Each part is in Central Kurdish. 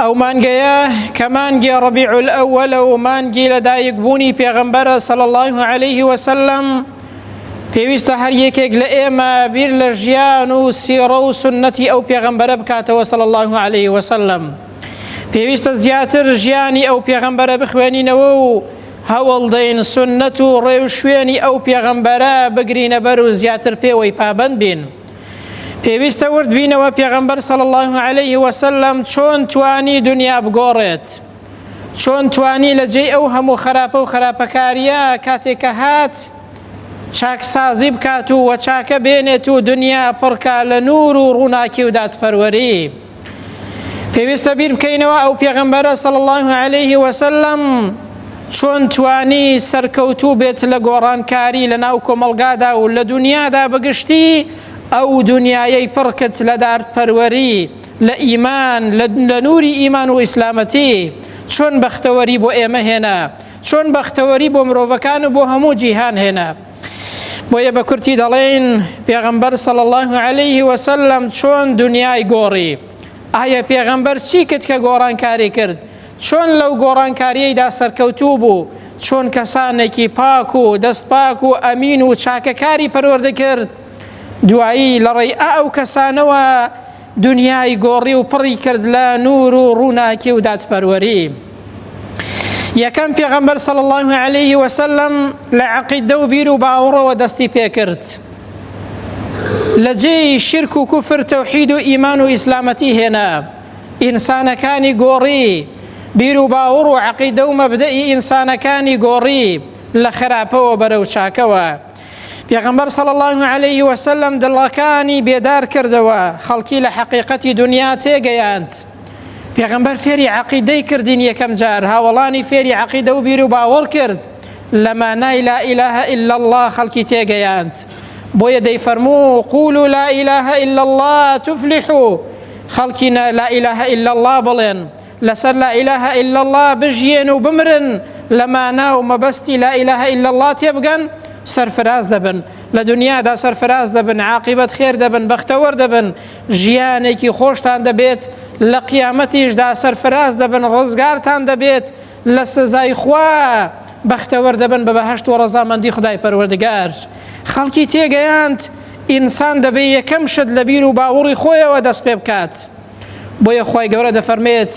ئەو مانگەیە کە مانگی ڕەبیع الأولە و مانگی لەدایکبوونی پێغەمبەرە صلی الله علیه وسلم پێویستە هەر یەکێک لە ئێمە بیر لە ژیان و سیڕە و سنەتی ئەو پێغەمبەرە بکاتەوە صلی الله علیه وسلم پێویستە زیاتر ژیانی ئەو پێغەمبەرە بخوێنینەوە و هەوڵدەین سنەت و ڕێو شوێنی ئەو پێغەمبەرە بگرینە بەر و زیاتر پێوەی پابند بین. پێویستە ورد بینەوە پێغەمبەر صلی الله علیه و سلم چۆن توانی دنیا بگۆڕێت چۆن توانی لە جێی ئەو هەموو خراپە و خراپەکاریە کاتێکە هات چاکسازی بکات و وە چاکە بێنێت و دنیا پڕکا لە نور و ڕووناکی و دادپەروەری پێویستە بیر بکەینەوە ئەو پێغمبەرە سەڵ الله عليه وسلم چۆن توانی سەرکەوتوو بێت لە گۆڕانکاری لە ناو کۆمەلگادا و لە دنیادا بگشتی ئەو دنیایەی پڕکت لە دارد پەروەری لە ئیمان لە نووری ئیمان و ئیسلامەتی چۆن بەختەوەری بۆ ئێمە هێنا چۆن بەختەوەری بۆ مرۆڤەکان و بۆ هەموو جیهان هێنا بۆیە بە کورتی دەڵێین پێغەمبەر صلی الله علیه وسلم چۆن دنیای گۆڕی ئایا پێغەمبەر چی کرد کە گۆڕانکاری کرد چۆن لەو گۆڕانکاریەیدا سەرکەوتوو بوو چۆن کەسانێکی پاک و دەست پاک و ئەمین و چاکەکاری پەروەردە کرد دوایی لە ڕێی ئەو کەسانەوە دنیای گۆڕی و پڕی کرد لە نور و ڕووناکی و دادپەروەری یەکەم پێغەمبەر صلی الله عليه وسلم لە عقیدە و بیر و باوەڕەوە دەستی پێکرد لە جێی شرک و کوفر تەوحید و ئیمان و ئیسلامەتی هێنا ئینسانەکانی گۆڕی بیر و باوەڕ و عقیدە و مەبدەئی ئینسانەکانی گۆڕی لە خراپەوە بەرەو چاکەوە پێغەمبەر صلی الله علیه و سلم دڵەکانی بێدار کردەوە خەڵکی لە حقیقەتی دنیا تێگەیاند پێغەمبەر فێری عقیدەی کردین یەکەم جار هاوڵانی فێری عقیدە و بیر و باوەڕ کرد لە مانای لا اله الا الله خەڵکی تێگەیاند بۆیە دەیفەرموو قول و لا اله الا الله تفلحو خەڵکی لا اله الا الله بڵێن لەسەر لا اله الا اللە بژیێن و بمرن لە مانا و مەبەستی لا اله الا اللە تێبگەن سەرفراز دەبن لە دنیادا سەرفراز دەبن عاقبەت خێر دەبن بەختەوەر دەبن ژیانێکی خۆشتان دەبێت لە قیامەتیشدا سەرفراز دەبن ڕزگارتان دەبێت لە سزای خوا بەختەوەر دەبن بە بەهشت و ڕەزامەندی خدای پەروەردگار خەڵکی تێگەیاند ئینسان دەبێ یەکەم شت لە بیر و باوەڕی خۆیەوە دەست پێ بکات. بۆیە خی گەورە دەفەرمێت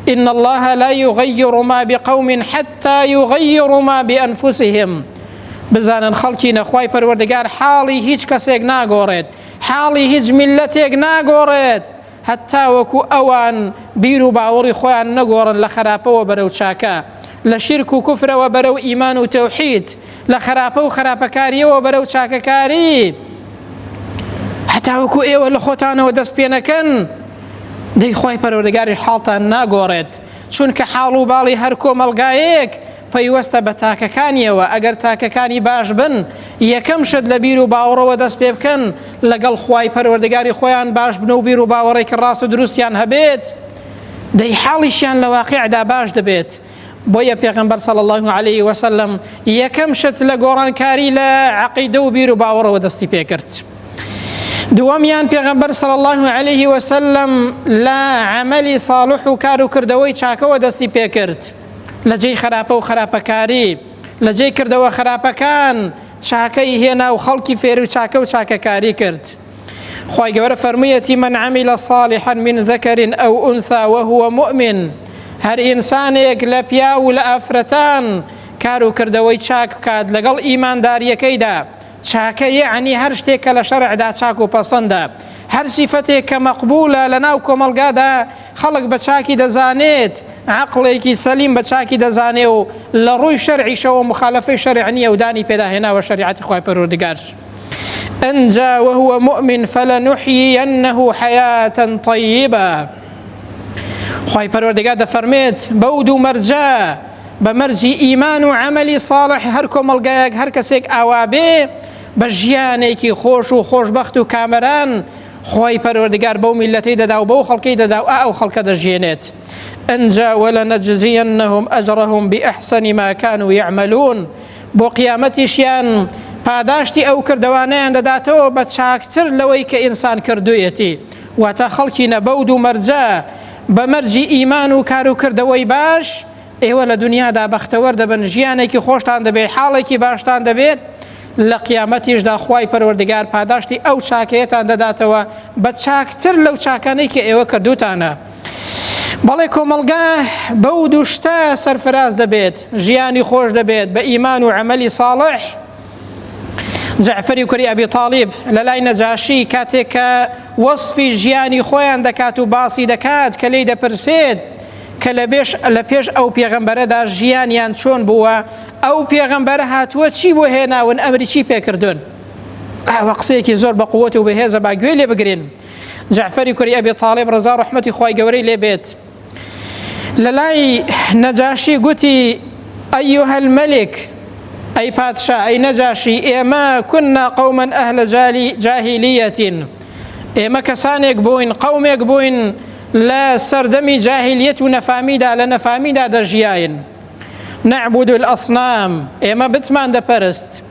إن الله لا يغير ما بقوم حتى يغيروا ما بأنفسهم بزانن خەڵکی نەخوای پەروەردگار حاڵی هیچ کەسێک ناگۆڕێت حاڵی هیچ میلەتێک ناگۆڕێت هەتا وەکو ئەوان بیر و باوەڕی خۆیان نەگۆڕن لە خراپەوە بەرەو چاکە لە شیرک و کوفرەوە بەرەو ئیمان و تەوحید لە خراپە و خراپەکاریەوە بەرەو چاکەکاری هەتاوەکو ئێوە لە خۆتانەوە دەست پێ نەکەن دەی خۆی پەرۆردەگاری حاڵتان ناگۆڕێت چونکە حاڵ و باڵی هەر کۆمەلگایەک پەیوەستە بە تاکەکانیەوە ئەگەر تاکەکانی باش بن یەکەم شت لە بیر و باوەڕەوە دەست پێ بکەن لەگەڵ خی پەروەردەگاری خۆیان باش بن و بیر و باوەڕێکی ڕاست و دروستیان هەبێت دەی حاڵیشیان لە واقعدا باش دەبێت بۆیە پێغەمبەر صلی الله علیه و سلم یەکەم شت لە گۆڕانکاری لە عقیدە و بیر و باوەڕەوە دەستی پێکرد دووەمیان پێغەمبەر صلی الله علیه و سلم لە عملی صالح و کار و کردەوەی چاکەوە دەستی پێکرد لە جێی خراپە و خراپەکاری لە جێی کردەوە خراپەکان چاکەی هێنا و خەڵکی فێر و چاکە و چاکەکاری کرد خوای گەورە فەرموویەتی من عمل صالحا من ذكر او انثى وهو مؤمن هەر ئینسانێک لە پیاو و لە ئافرەتان کار و کردەوەی چاک بکات لەگەڵ ئیمانداریەکەیدا چاکە یعنی هەر شتێک کە لە شەرعدا چاک و پەسەندە هەر سیفەتێک کە مەقبولە لە ناو کۆمەلگادا خەڵک بە چاکی دەزانێت عقلێکی سەلیم بە چاکی دەزانێ و لە ڕووی شەرعیشەوە مخالفی شەرعنی ئەودانی پێداهێناوە شریعەتی خخوای پەرۆردگار. ئەنجا وهو مؤمن فلنحيينه حياة طيبة خی پەروەردەگا دەفەرمێت بەو دوو مەرجە بە مەرجی ئیمان و عملی صالح هەر کۆمەلگایەک هەر کەسێک ئاوا بێ بە ژیانێکی خۆش و خۆشببخت و کامەران خۆی پەروەردگار بەو میلەتی دەدا و بەو خەڵکی دەدا و ئەو خەڵکە دەژێنێت ئەجا وەلە نەجززیەن نەهم ئەجڕهم بئەحسەنی ماکان و یعملون بۆ قیامەتیشیان پاداشتی ئەو کردەوانیان دەداتەوە بە چاکتر لەوەی کە ئینسان کردویەتی واتە خەڵکی نەبەود و مەرجە بە مەرجی ئیمان و کار و کردەوەی باش ئێوە لە دنیادا بەختەوەر دەبن ژیانێکی خۆشتان دەبێت حاڵێکی باشتان دەبێت لە قیامەتیشدا خوای پەروەردگار پاداشتی ئەو چاکەیەتان دەداتەوە بە چاکتر لەو چاکانەی کە ئێوە کردوتانە بەڵێ کۆمەڵگا بەو دوو شتە سەرفراز دەبێت ژیانی خۆش دەبێت بە ئیمان و عملی ساڵح جعفری کوری ئەبی تاالب لە لای نەجاشی کاتێک کە وەصفی ژیانی خۆیان دەکات و باسی دەکات کە لی دەپرسێت کە لە بێش لە پێش ئەو پێغەمبەرەدا ژیانیان چۆن بووە ئەو پێغەمبەر هاتووە چی بۆ هێناون ئەمریکی پێکردون ئەوە قسەیەکی زۆر بە قووەت و بەهێزە با گوێ لێ بگرین جعفری کوری ئەبی طالب ڕزا ڕحمەتی خی گەورەی لێ بێت لە لای نەجاشی گوتی ئەیها الملك ئەی پادشا ئەی نەجاشی ئێمە کنا قوما ئەهل جالی جاهلیەتین ئێمە کەسانێک بووین قومێک بووین لە سەردەمی جاهلیەت و نەفامیدا لە نەفامیدا دەژیاین نعبود الاصنام ئێمە بتمان دەپەرست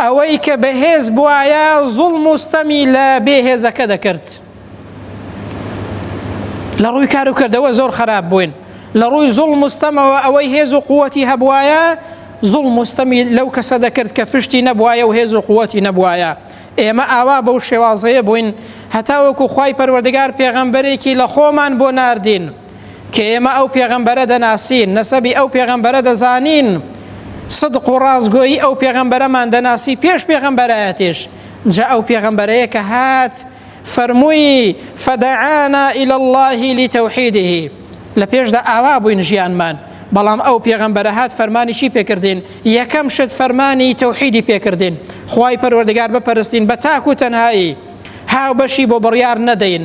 ئەوەی کە بەهێز بواە زوڵم و ستەمی لە بێهێزەکە دەکرد لە ڕووی کار و کردەوە زۆر خراپ بووین لە ڕووی زوڵ مستەمەوە ئەوەی هێز و قووەتی هەبواە زوڵ مستەمی لەو کەسە دەکرد کە پشتی نەبواە و هێز و قووەتی نەبواە ئێمە ئاوا بەو شێوازەیە بووین هەتاوەکو خی پەروەردگار پێغەمبەرێکی لە خۆمان بۆ ناردین کە ئێمە ئەو پێغەمبەرە دەناسین نەسەبی ئەو پێغەمبەرە دەزانین صدق و ڕازگۆیی ئەو پێغەمبەرەمان دەناسی پێش پێغەمبەرایەتێش جا ئەو پێغەمبەرەیە کە هات فەرمووی فەدەعانا إلى الله لتوحیده لە پێشدا ئاوا بووین ژیانمان بەڵام ئەو پێغەمبەرە هات فەرمانی چی پێکردین یەکەم شت فەرمانی تەوحیدی پێکردین خی پەروەردگار بپەرستین بە تاک و تەنایی هاو بەشی بۆ بڕیار نەدەین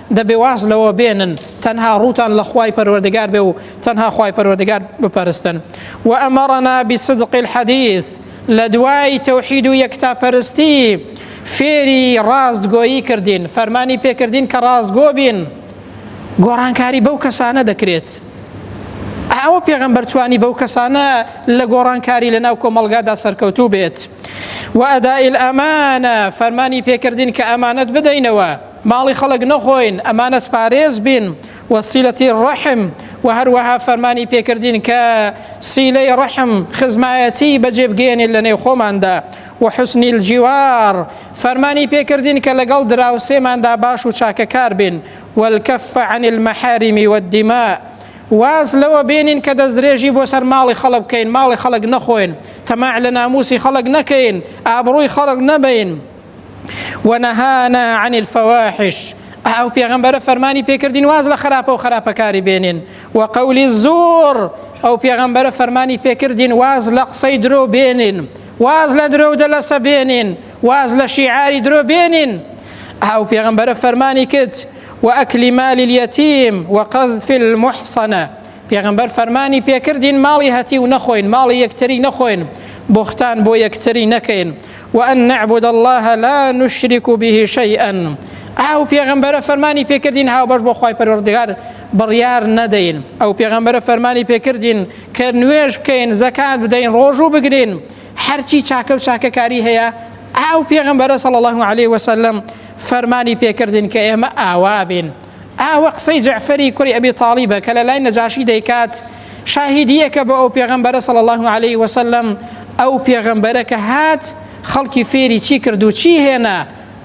دەبێ واز لەوە بێنن تەنها ڕووتان لە خوای پەروەردگار بێ و تەنها خوای پەروەردگار بپەرستن و ئەمەڕەنا بصدق الحديث لە دوای تەوحید و یەکتا پەرستی فێری ڕاستگۆیی کردین فەرمانی پێکردین کە ڕاستگۆ بین گۆڕانکاری بەو کەسانە دەکرێت ئەوە پێغەمبەرتوانی بەو کەسانە لە گۆڕانکاری لە ناو کۆمەلگادا سەرکەوتوو بێت و ئەدائیل ئەمانە فەرمانی پێکردین کە ئەمانەت بدەینەوە ماڵی خەڵک نەخۆین، ئەمانەت پارێز بین، و صلتی الرحم، و هەروەها فەرمانی پێکردین کە صیلەی رحم، خزمایەتی، بەجێ بگەیەنین لە نێو خۆماندا، و حسن الجوار، فەرمانی پێکردین کە لەگەڵ دراوسێماندا باش و چاکەکار بین، و الکف عن المحارم و الدماء، واز لەوە بێنین کە دەستدرێژی بۆ سەر ماڵی خەڵک بکەین، ماڵی خەڵک نەخۆین، تەماع لە ناموسی خەڵک نەکەین، ئابڕووی خەڵک نەبەین. ونهانا عن الفواحش ئەو پێغەمبەرە فەرمانی پێکردین واز لە خراپە و خراپەکاری بێنین و قولی زۆر ئەو پێغەمبەرە فەرمانی پێکردین واز لە قسەی درۆ بێنین واز لە درۆ دەلەسە بێنین واز لە شیعاری درۆ بێنین ئەو پێغەمبەرە فەرمانی کرد و ئەکلی مالی اليتیم و قەزف المحصنە پێغمبەر فەرمانی پێکردین ماڵی هەتی و نەخۆین ماڵی یەکتری نەخۆین بختان بۆ یەکتری نەکەین وأن نعبد الله لا نشرك به شيئا ئەو پێغەمبەرە فەرمانی پێکردین هاوبەش بۆ خی پەروەردگار بڕیار نەدەین ئەو پێغەمبەرە فەرمانی پێکردین کە نوێژ بکەین زەکات بدەین ڕۆژوو بگرین هەرچی چاکە و چاکەکاری هەیە ئەو پێغەمبەرە سەڵ الله عليه وسلم فەرمانی پێکردین کە ئێمە ئاوا بین ئاوە قسەی جەعفەری کوڕی ئەبی تاڵیبە کە لە لای نەجاشی دەیکات شاهیدیەکە بۆ ئەو پێغەمبەرە صلی الله عليه وسلم ئەو پێغەمبەرە کە هات خەڵکی فێری چی کرد و چی هێنا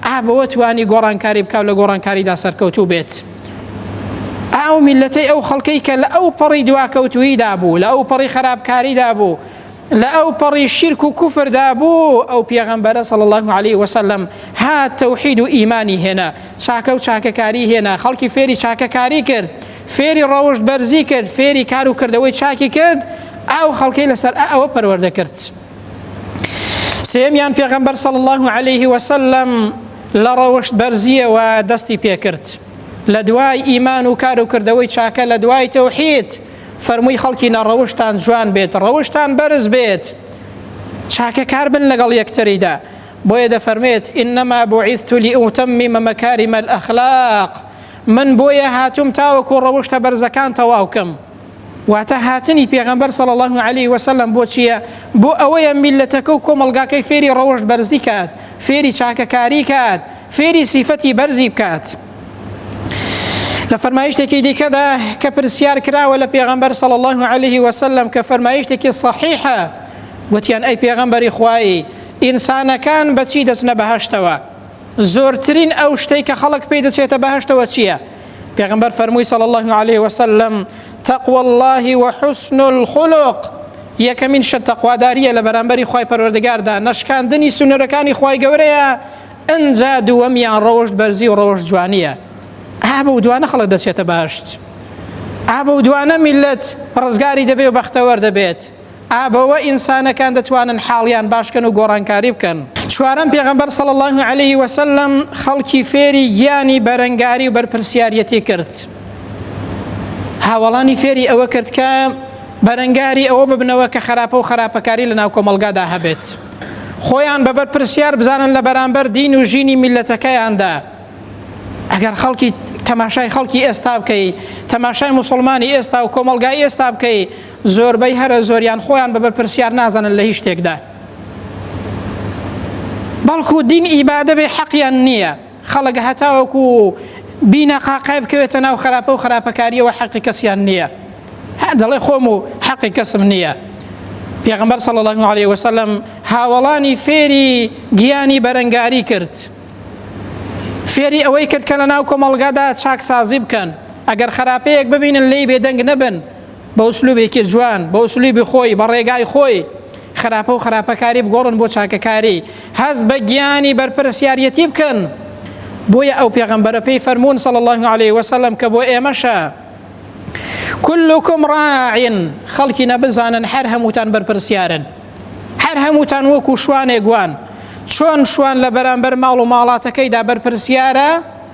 ئابەوە توانی گۆڕانکاری بکاو لە گۆڕانکاریدا سەرکەوتوو بێت ئاو میلەتەی ئەو خەڵکەی کە لە ئەو پەڕی دواکەوتویدا بوو لە ئەو پەڕی خراپکاریدا بوو لە ئەو پەڕی شیرک و کوفردا بوو ئەو پێغەمبەرە صلی الله علیه وسلم ها تەوحید و ئیمانی هێنا چاکە و چاکەکاری هێنا خەڵکی فێری چاکەکاری کرد فێری ڕەوشت بەرزی کرد فێری کار و کردەوەی چاکی کرد ئەو خەڵکی لەسەر ئەوە پەروەردە کرد سێمیان پێغەمبەر صلی الله علیه وسلم لە ڕەوشت بەرزیەوە دەستی پێکرد لە دوای ئیمان و کار و کردەوەی چاکە لە دوای تەوحید فەرمووی خەڵکینە ڕەوشتان جوان بێت ڕەوشتان بەرز بێت چاکەکار بن لەگەڵ یەکتریدا بۆیە دەفەرمێت ئینەما بۆعیست و لیئوتەممی مەمەکاری مەل ئەخلاق من بۆیە هاتوم تاوەکو ڕەوشتە بەرزەکان تەواوکەم واتە هاتنی پێغەمبەر صلی الله علیه وسلم بۆ چییە بۆ ئەوەیە میلەتەکە و کۆمەلگاکەی فێری ڕەوشت بەرزی کات فێری چاکەکاری کات فێری سیفەتی بەرزی بکات لە فەرمایشتێکی دیکەدا کە پرسیار کراوە لە پێغەمبەر صلی الله عليه وسلم کە فەرمایشتێکی صحیحە گوتیان ئەی پێغەمبەری خوایی ئینسانەکان بەچی دەچنە بەهشتەوە زۆرترین ئەو شتەی کە خەڵک پێی دەچێتە بەهشتەوە چییە؟ پێغمبەر فەرمووی صلی الله عليه وسلم تقوى الله وحسن الخلق یەکەمین شت تەقواداریە لە بەرامبەری خی پەروەردگاردا نەشکاندنی سنوورەکانی خی گەورەیە ئنجا دووەمیان ڕەوشت بەرزی و ڕەوشت جوانیە ئا بەو دوانە خەڵک دەچێتە باشت ئا بەو دوانە میلەت ڕزگاری دەبێ و بەختەوەر دەبێت ئابەوە ئینسانەکان دەتوانن حاڵیان باشکەن و گۆڕانکاری بکەن چوارم پێغەمبەر صلی الله عليه وسلم خەڵکی فێری گیانی بەرەنگاری و بەرپرسیارەتی کرد هاوڵانی فێری ئەوە کرد کە بەرەنگاری ئەوە ببنەوە کە خراپە و خراپەکاری لە ناو کۆمەلگادا هەبێت خۆیان بە بەرپرسیار بزانن لە بەرامبەر دین و ژینی میلەتەکەیاندا ئەگەر خەڵکی تەماشای خەڵکی ئێستا بکەی تەماشای مسلمانی ئێستا و کۆمەلگای ئێستا بکەی زۆربەی هەرە زۆریان خۆیان بە بەرپرسیار نازانن لە هیچ شتێکدا بەڵکو دین ئیبادە بێ حەقیان نییە خەڵک هەتاوەکو بینە قاقای بکەوێتە ناو خراپە و خراپەکاریەوە حەقی کەسیان نییە دەڵێ خۆم و حەقی کەسم نییە پێغمبەر صلی الله عليه وسلم هاوڵانی فێری گیانی بەرەنگاری کرد فێری ئەوەی کرد کە لە ناو کۆمەڵگادا چاکسازی بکەن ئەگەر خراپەیەک ببینن لی بێدەنگ نەبن بە ئوسلوبێکی جوان بە ئوسلوبی خۆی بە ڕێگای خۆی خراپە و خراپەکاری بگۆڕن بۆ چاکەکاری هەست بە گیانی بەرپرسیاریەتی بکەن بۆیە ئەو پێغەمبەرە پێی فەرمونون صلی الله عليه وسلم کە بۆ ئێمەشە كلكم راع خەڵکی نەبزانن هەر هەمووتان بەرپرسیارن هەر هەمووتان وەکو شوانێک گوان چۆن شوان لە بەرامبەر ماڵ و ماڵاتەکەیدا بەرپرسیارە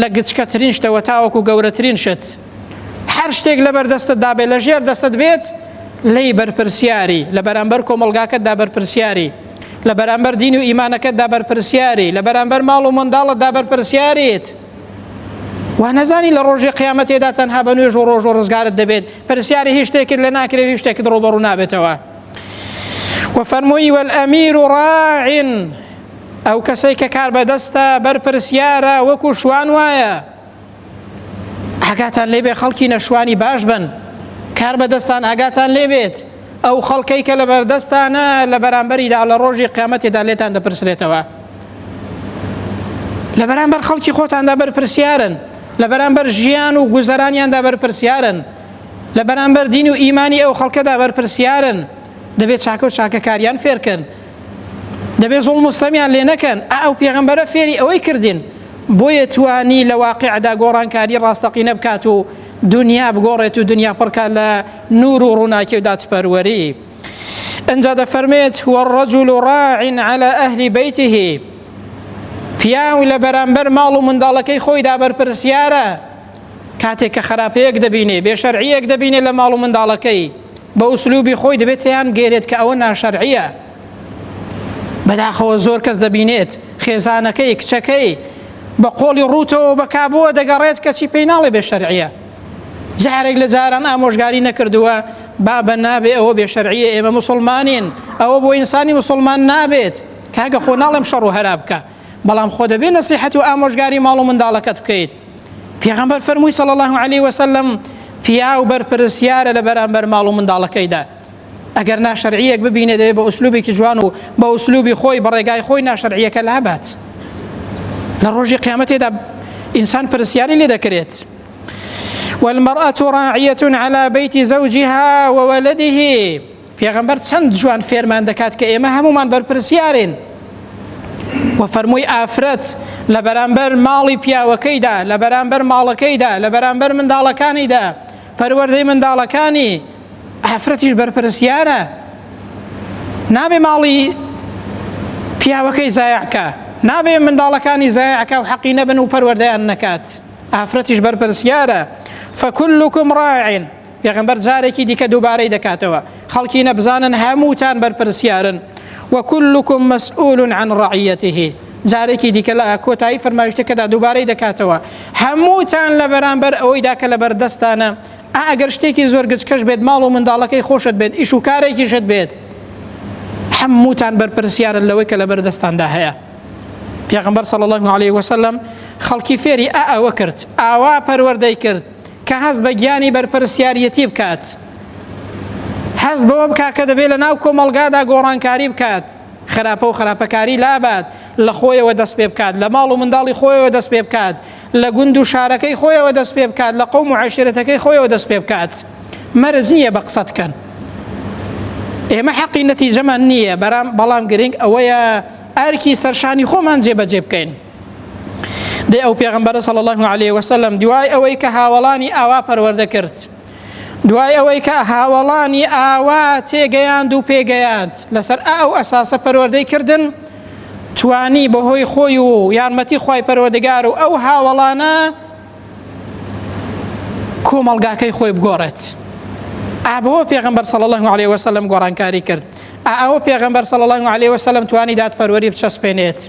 لە گچکەترین شتەوە تاوەکو گەورەترین شت، هەر شتێک لەبەر دەستت دابێت، لە ژێر دەستت بێت، لێی بەرپرسیاری، لە بەرامبەر کۆمەڵگاکەتدا بەرپرسیاری، لە بەرامبەر دین و ئیمانەکەتدا بەرپرسیاری، لە بەرامبەر ماڵ و منداڵتدا بەرپرسیاریت. وا نەزانی لە ڕۆژی قیامەتێدا تەنها بە نوێژ و ڕۆژ و ڕزگارت دەبێت، پرسیاری هیچ شتێکت لێ ناکرێ و هیچ شتێکت ڕووبەڕوو نابێتەوە. وفرموی والامیر راع ئەو کەسەی کە کاربەدەستە بەرپرسیارە وەکو شوان وایە ئاگاتان لێبێ خەڵکی نەشوانی باش بن کار بەدەستان ئاگاتان لێبێت ئەو خەڵکەی کە لە بەردەستانە لە بەرامبەریدا لە ڕۆژی قیامەتێدا لێتان دەپرسرێتەوە لە بەرامبەر خەڵکی خۆتاندا بەرپرسیارن لە بەرامبەر ژیان و گوزەرانیاندا بەرپرسیارن لە بەرامبەر دین و ئیمانی ئەو خەڵکەدا بەرپرسیارن دەبێت چاکە و چاکەکاریان فێرکەن دەبێ زۆڵ مستەمیان لێ نەکەن ئەو پێغمبەرە فێری ئەوەی کردین بۆیە توانی لە واقعدا گۆڕانکاری ڕاستەقینە بکات و دنیا بگۆڕێت و دنیا پڕکە لە نور و ڕووناکی و دادپەروەری ئەجا دەفەرمێت وەڕەجول و ڕاعین على ئەهلی بیتهی پیاو لە بەرامبەر ماڵ و منداڵەکەی خۆیدا بەرپرسیارە کاتێک کە خراپەیەک دەبینێ بێ شەرعیەک دەبینێ لە ماڵ و منداڵەکەی بە ئوسلوبی خۆی دەبێت تیان گەێت کە ئەوە ناشەرعە بەداخەوە زۆر کەس دەبینێت خێزانەکەی کچەکەی بە قۆڵی ڕووتەوە بە کابووە دەگەڕێت کەچی پێی ناڵێ بێ شەرعە جارێک لە جاران ئامۆژگاری نەکردووە بابە نابێ ئەوە بێ شەرعە ئێمە مسلمانین ئەوە بۆ ئینسانی مسلمان نابێت کاگە خۆ ناڵێم شەڕ و هەرا بکە بەڵام خۆ دەبێ نەسیحەت و ئامۆژگاری ماڵ و منداڵەکەت بکەیت پێغەمبەر فەرمووی صلی الله علیه وسلم پیاو بەرپرسیارە لە بەرامبەر ماڵ و منداڵەکەیدا ئەگەر ناشەرعیەک ببینێ دەبێ بە ئوسلوبێکی جوان و بە ئوسلوبی خۆی بەڕێگای خۆی ناشەرعیەکە لابات لە ڕۆژی قیامەتێدا ئینسان پرسیاری لێ دەکرێت والمرأة راعية على بيت زوجها وولده پێغەمبەر چەند جوان فێرمان دەکات کە ئێمە هەمومان بەرپرسیارین و فەرمووی ئافرەت لە بەرامبەر ماڵی پیاوەکەیدا لە بەرامبەر ماڵەکەیدا لە بەرامبەر منداڵەکانیدا پەروەردەی منداڵەکانی ئافرەتیش بەرپرسیارە نابێ ماڵی پیاوەکەی زایعکە نابێ منداڵەکانی زایعکە و حەقی نەبن و پەروەردەیان نەکات ئافرەتیش بەرپرسیارە فەکلکم ڕاعین پێغمبەر جارێکی دیکە دووبارەی دەکاتەوە خەڵکی نەبزانن هەمووتان بەرپرسیارن وەکلکم مەسئول عن ڕعەتهی جارێکی دیکە لە کۆتایی فەرمایشتەکەدا دووبارەی دەکاتەوە هەمووتان لە بەرامبەر ئەوەیدا کە لە بەردەستانە ئەگەر شتێکی زۆر گچکەش بێت ماڵ و منداڵەکەی خۆشت بێت ئیش و کارێکیشت بێت هەمووتان بەرپرسیارن لەوەی کە لە بەردەستاندا هەیە پێغمبەر صلی الله عليه وسلم خەڵکی فێری ئا ئەوە کرد ئاوا پەروەردەی کرد کە هەست بە گیانی بەرپرسیاریەتی بکات، هەست بەوە بکات کە دەبێت لە ناو کۆمەڵگادا گۆڕانکاری بکات، خراپە و خراپەکاری لابات، لە خۆیەوە دەست پێ بکات، لە ماڵ و منداڵی خۆیەوە دەست پێ بکات، لە گوند و شارەکەی خۆیەوە دەست پێ بکات، لە قەوم و عەشیرەتەکەی خۆیەوە دەست پێ بکات. مەرج نییە بە قسە دکەن. ئێمە حەقی نەتیجەمان نییە، بەرام بەڵام گرنگ ئەوەیە ئەرکی سەرشانی خۆمان جێبەجێ بکەین. دەی ئەو پێغمبەرە صلی الله عليه وسلم دوای ئەوەی کە هاوڵانی ئاوا پەروەردە کرد دوای ئەوەی کە هاوڵانی ئاوا تێگەیاند و پێگەیاند لەسەر ئەو ئەساسە پەروەردەی کردن توانی بەهۆی خۆی و یارمەتی خی پەروەردگار و ئەو هاوڵانە کۆمەلگاکەی خۆی بگۆڕێت ئابەوە پێغمبەر صلی الله عليه وسلم گۆڕانکاری کرد ئەوە پێغمبەر صلی الله عليه وسلم توانی دادپەروەری بچەسپێنێت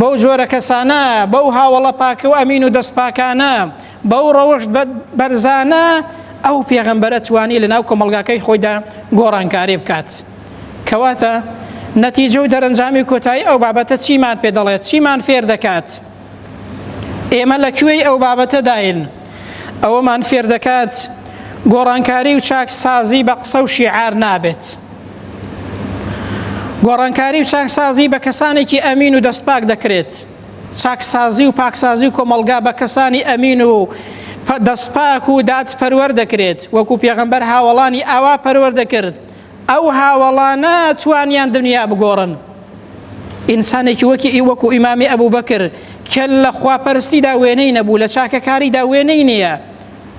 بەو جۆرە کەسانە بەو هاوڵە پاکە و ئەمین و دەست پاکانە بەو ڕەوشت بەرزانە ئەو پێغەمبەرە توانی لە ناو کۆمەلگاکەی خۆیدا گۆڕانکاری بکات کەواتە نەتیجە و دەرەنجامی کۆتایی ئەو بابەتە چیمان پێ دەڵێت چیمان فێر دەکات ئێمە لە کوێی ئەو بابەتەداین ئەوەمان فێر دەکات گۆڕانکاری و چاکسازی بە قسە و شیعار نابێت گۆڕانکاری و چاکسازی بە کەسانێکی ئەمین و دەستپاک دەکرێت چاکسازی و پاکسازی و کۆمەلگا بە کەسانی ئەمین و دەستپاک و داد پەروەەر دەکرێت وەکو پێغەمبەر هاوڵانی ئاوا پەروەەر دەکرد ئەو هاوڵانە توانیان دنیا بگۆڕن ئینسانێکی وەکی ئی وەکو ئیمامی ئەبوو بەکر کە لە خواپەرستیدا وێنەی نەبوو لە چاکەکاریدا وێنەی نییە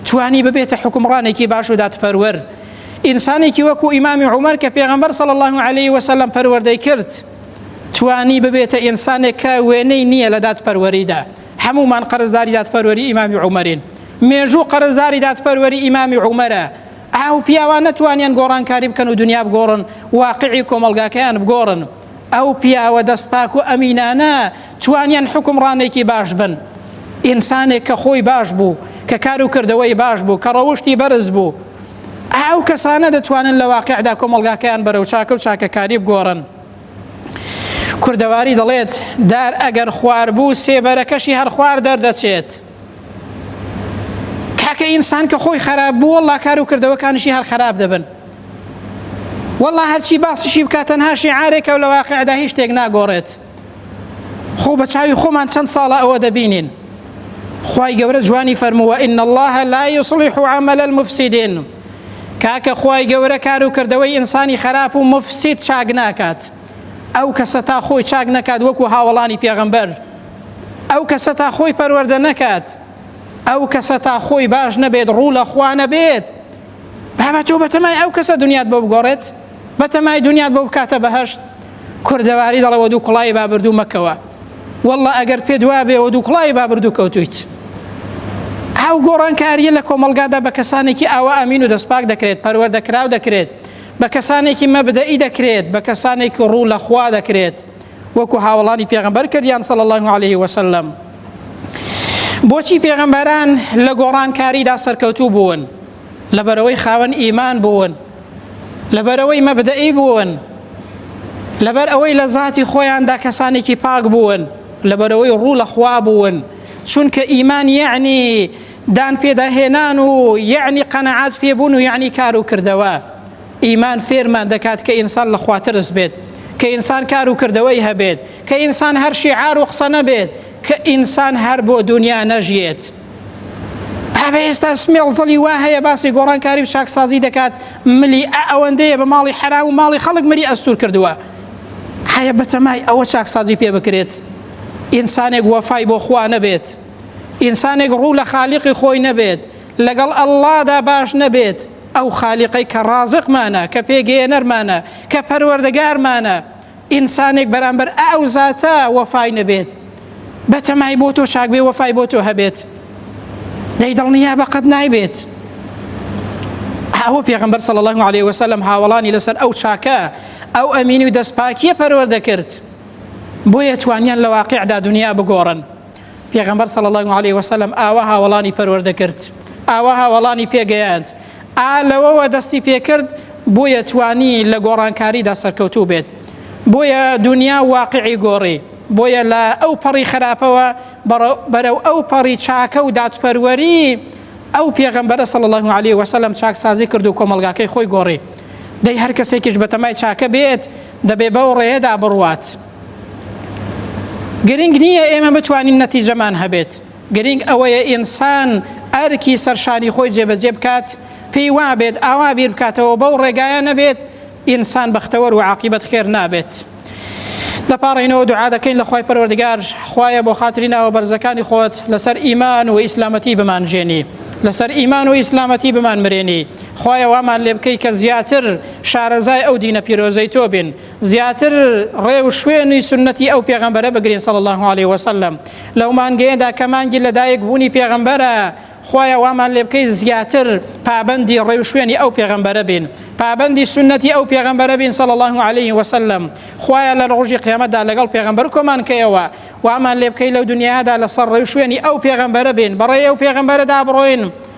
توانی ببێتە حکومڕانێکی باش و دادپەروەر ئینسانێکی وەکو ئیمامی عومەر کە پێغەمبەر صلی الله عليه وسلم پەروەردەی کرد توانی ببێتە ئینسانێک کە وێنەی نییە لە دادپەروەریدا هەمومان قەرزداری دادپەروەری ئیمامی عومەرین مێژوو قەرزداری دادپەروەری ئیمامی عومەرە ئاو پیاوان نەتوانیان گۆڕانکاری بکەن و دنیا بگۆڕن واقعی کۆمەلگاکەیان بگۆڕن ئەو پیاوە دەست پاک و ئەمینانە توانیان حکومڕانێکی باش بن ئینسانێک کە خۆی باش بوو کە کار و کردەوەی باش بوو کە ڕەوشتی بەرز بوو ئەو کەسانە دەتوانن لە واقعدا کۆمەلگاکەیان بەرەو چاکە و چاکەکاری بگۆڕن کوردەواری دەڵێت دار ئەگەر خوار بوو سێبەرەکەشی هەر خوار دەردەچێت کاکە ئینسان کە خۆی خراپ بوو والله کار و کردەوەکانشی هەر خراپ دەبن والله هەرچی باسشی بکات تەنها شیعارێکە و لە واقعدا هیچ شتێک ناگۆڕێت خۆ بە چاوی خۆمان چەند ساڵە ئەوە دەبینین خی گەورە جوانی فەرمووە ئین الله لا يصلح عمل المفسدين کاکە خی گەورە کار و کردەوەی ئینسانی خراپ و مفسید چاک ناکات ئەو کەسە تا خۆی چاک نەکات وەکو هاوڵانی پێغەمبەر ئەو کەسە تا خۆی پەروەەردە نەکات ئەو کەسە تا خۆی باش نەبێت ڕوو لە خوانە بێت بابە تۆ بەتەمای ئەو کەسە دنیات بۆ بگۆڕێت بەتەمای دنیات بۆ بکاتە بەهشت کوردەواری دەڵەوە دوو کوڵای بابردوو مەکەوە والله ئەگەر پێ دوا بێەوە دوو کوڵای بابردوو کەوتویت ئەو گۆڕانکاریە لە کۆمەلگادا بە کەسانێکی ئاوا ئەمین و دەستپاک دەکرێت پەروەەردەکراو دەکرێت بە کەسانێکی مەبدەئی دەکرێت بە کەسانێکی ڕوو لە خوا دەکرێت وەکو هاوڵانی پێغمبەر کردیان سەڵ الله عليه وسلم بۆچی پێغمبەران لە گۆڕانکاریدا سەرکەوتوو بوون لەبەرەوەی خاوەن ئیمان بوون لەبەرەوەی مەبدەئی بوون لەبەر ئەوەی لە زاتی خۆیاندا کەسانێکی پاک بوون لەبەرەوەی ڕوو لە خوا بوون چونکە ئیمان یعنی دان پێدا هێنان و یعنی قەنەعات پێبوون و یعنی کار و کردەوە ئیمان فێرمان دەکات کە ئینسان لە خواترس بێت کە ئینسان کار و کردەوەی هەبێت کە ئینسان هەر شیعار و قسە نەبێت کە ئینسان هەر بۆ دنیا نەژیێت بابە ئێستا سمێڵ زڵی وا هەیە باسی گۆڕانکاری و چاکسازی دەکات ملی ئەوەندەیە بە ماڵی حرام و ماڵی خەڵک مری ئەستور کردووە هەیە بەتەمای ئەوە چاکسازی پێ بکرێت ئینسانێک وەفای بۆ خوا نەبێت ئینسانێک ڕوو لە خالیقی خۆی نەبێت لەگەڵ ئەللادا باش نەبێت ئەو خالیقەی کە ڕازقمانە کە پێگەیەنەرمانە کە پەروەردەگارمانە ئینسانێک بەرامبەر ئەو زاتە وەفای نەبێت بەتەمای بۆ تۆ چاک بێ وەفای بۆ تۆ هەبێت دەی دڵنیا بەقەت نایبێت ئەوە پێغمبەر صلی الله عليه وسلم هاوڵانی لەسەر ئەو چاکە ئەو ئەمینی و دەستپاکیە پەروەردە کرد بۆیە توانیان لە واقعدا دنیا بگۆڕن پێغەمبەر صلی الله علیه و سلم ئاوا هاوڵانی پەروەردە کرد ئاوا هاوڵانی پێگەیاند ئا لەوەوە دەستی پێکرد بۆیە توانی لە گۆڕانکاریدا سەرکەوتوو بێت بۆیە دنیا واقعی گۆڕی بۆیە لە ئەو پەڕی خراپەوە بەرەو ئەو پەڕی چاکە و دادپەروەری ئەو پێغەمبەرە صلی الله علیه و سلم چاکسازی کرد و کۆمەلگاکەی خۆی گۆڕی دەی هەر کەسێکیش بەتەمای چاکە بێت دەبێ بەو ڕێدا بڕوات گرنگ نییە ئێمە بتوانین نەتیجەمان هەبێت گرنگ ئەوەیە ئینسان ئەرکی سەرشانی خۆی جێبەجێ بکات پێی وابێت ئاوا بیر بکاتەوە بەو ڕێگایە نەبێت ئینسان بەختەوەر و عقیبەت خێر نابێت. دەپاڕینەوە دوعا دەکەین لە خی پەروەردگار خوایە بۆ خاتری ناوە بەرزەکانی خۆت لەسەر ئیمان و ئیسلامەتی بمانژێنی لەسەر ئیمان و ئیسلامەتی بمان مرێنی خوایە وامان لێ بکەی کە زیاتر شارەزای ئەو دینە پیرۆزەی تۆ بین زیاتر ڕێ و شوێنی سنەتی ئەو پێغەمبەرە بگرین صلی الله علیه وسلم لەو مانگەیەدا کە مانگی لەدایک بوونی پێغەمبەرە خوایە وامان لێ بکەی زیاتر پابەندی ڕێ و شوێنی ئەو پێغەمبەرە بین پابەندی سنەتی ئەو پێغەمبەرە بین صلی الله علیه وسلم خوایە لە ڕۆژی قیامەتدا لەگەڵ پێغەمبەر کۆمان کەیەوە وامان لێ بکەی لەو دنیادا لەسەر ڕێ و شوێنی ئەو پێغەمبەرە بین بەڕێ ئەو پێغەمبەرەدا بڕۆین